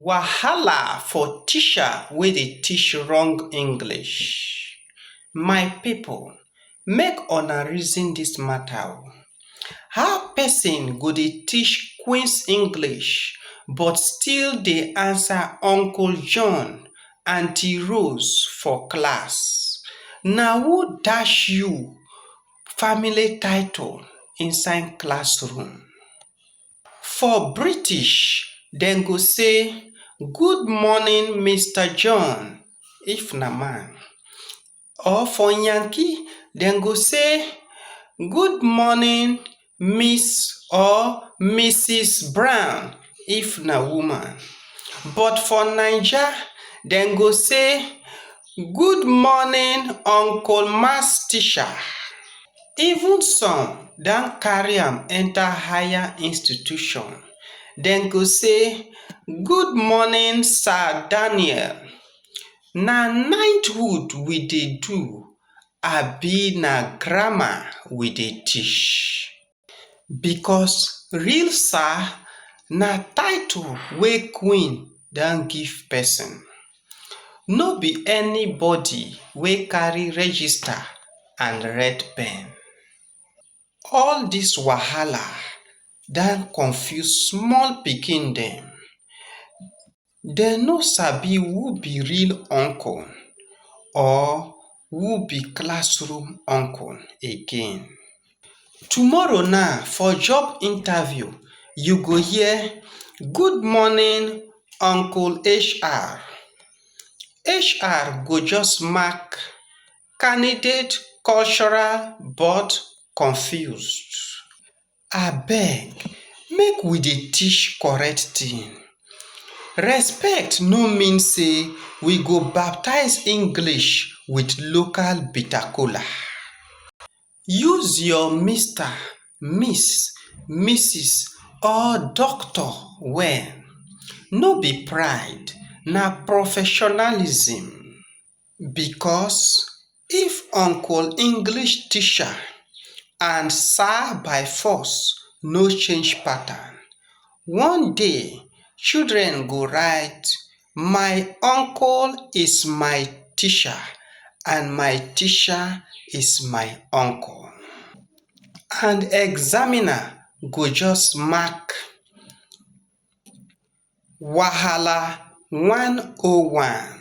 Wahala for teacher wey dey teach wrong English. My people, make una reason this matter o. How person go dey teach Queen's English but still dey answer Uncle John, Aunty Rose for class? Na who dash you family title inside classroom? For British, dem go say, Good morning, Mister John, if na man. Or for Yankee, dem go say, Good morning, Miss or Mrs. Brown, if na woman. But for Naija, dem go say, Good morning, Uncle Maths Teacher. even some don carry am enter higher institution dem go say good morning sir daniel na knighthood we dey do abi na grammar we dey teach? because real sir na title wey queen don give person no be anybody wey carry register and red pen all this wahala don confuse small pikin dem dem no sabi who be real uncle or who be classroom uncle again. Tomorrow na for job interview you go hear good morning uncle HR. HR go just mark candidate cultural but confused. Abeg make we dey teach correct thing. Respect no mean sey we go baptize English with local bitter kola. use your mr miss missus or doctor well no be pride na professionalism because if uncle english teacher and sir by force no change pattern one day children go write My uncle is my teacher and my teacher is my uncle and examiner go just mark wahala 101.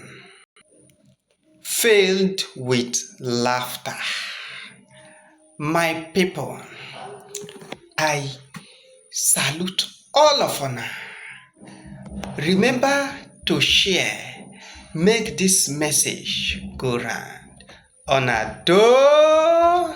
filled with laughter my people i salute all of una remember to share make this message go round una doh